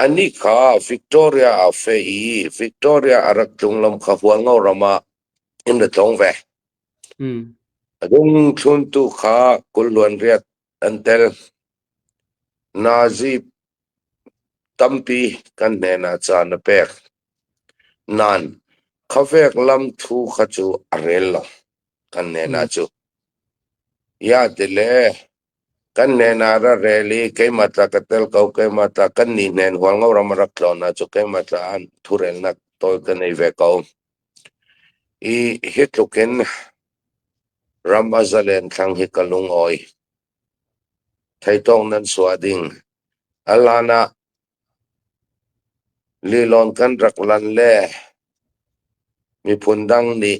Anih kha Victoria a feh i Victoria a rak tlung lam kha Hualngo ram ah in ra tlung ve. A dung thluntu kha kul luanriat an tel. Nazi tampi kan hnenah caan a pek. Nain, khuavek lam thu kha cu a rel lo kan hnenah cu. Iate le Kan hnen ah rak rel i keimah ta ka tel ko, keimah ta kannih hnen hualngoram a rak tlawnnak cu keimah ta an thurelnak tawi ka ngei ve ko. I hi tluk in ram a zalen thlang hi ka lungawi. Theitawk nan suah ding. A hlan ah lilon kan rak lan le miphun dang nih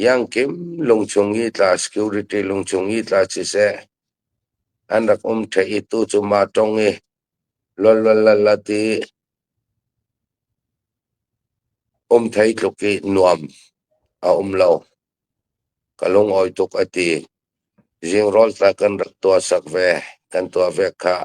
Iangkim lungchung i tla security lungchung i tla siseh, an rak um ṭheh i tu cu mah ṭong i lawlwalalat i um thei tluk i nuam a um lo. Ka lungawi tuk a ti. Zingrawl tla kan rak tuahsak ve, kan tuah ve khah.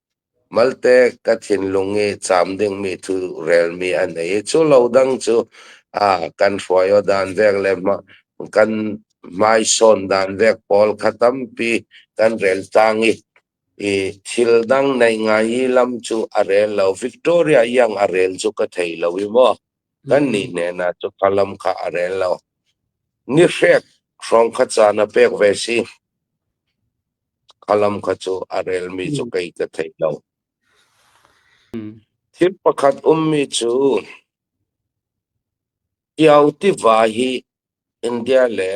Malte ka thinlung i caam dingmi cu relmi an ei i cu lo dang cu aa kan hruai aw dan vek le mah kan hmaisawn dan vek pawl kha tampi kan rel tang i i thil dang nei ngai i lam cu a rel lo. Victoria iang a rel cu ka thei lo i maw kannih hnenah cu ka lam kha a rel lo. Ni hrek hrawng kha caan a pek ve si. Ka lam kha cu a relmi cu kei ka thei lo. Thil pakhat ummi cu Kio tiva hi India le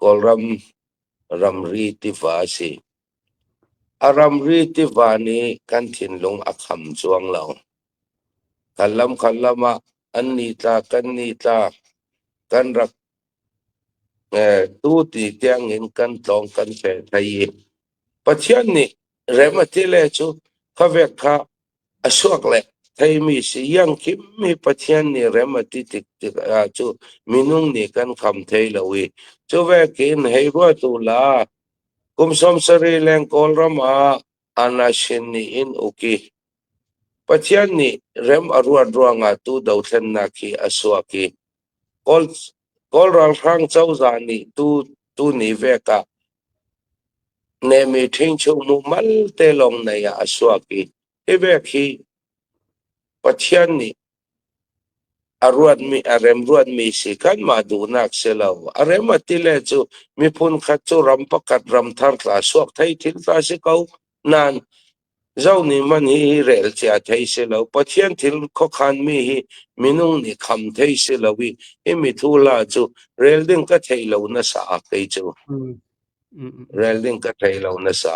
Kawlram ramri tiva a si. A ramri tiva nih kan thinlung a kham cuang lo. Kan lam khan lam ah an nitla, kan nitla, kan rak Tuti tiangin kan tlawng kan fel hna i Pathian nih rem a ti le cu khuavek kha a suak le theimi si iang khim mi Pathian nih rem a ti tik tikah cu minung nih kan kham thai lo i cuvekin hei ruatu la kum sawm sarih leng Kawlram ah Anashin nih in uk i Pathian nih rem a ruat ruangah tu dothlennak hi a suak i Kawl ralhrang cozah nih tuni vek ah nehmi ṭhingchuk muhmal te lawng nei ah a suak i hi vek hi Pathian nih a ruatmi a remruatmi si kanmah duhnak si lo. A rem a ti le cu miphun khat cu ram pakhat ram thar tla suak thei thin hlah si ko. Nain Zoh nih man hi relcia thei si lo, Pathian thil khuakhanmi hi minung nih kham thei si lo i hi mithuhla cu rel ding ka thei lo na sa kei cu. Rel ding ka thei lo na sa.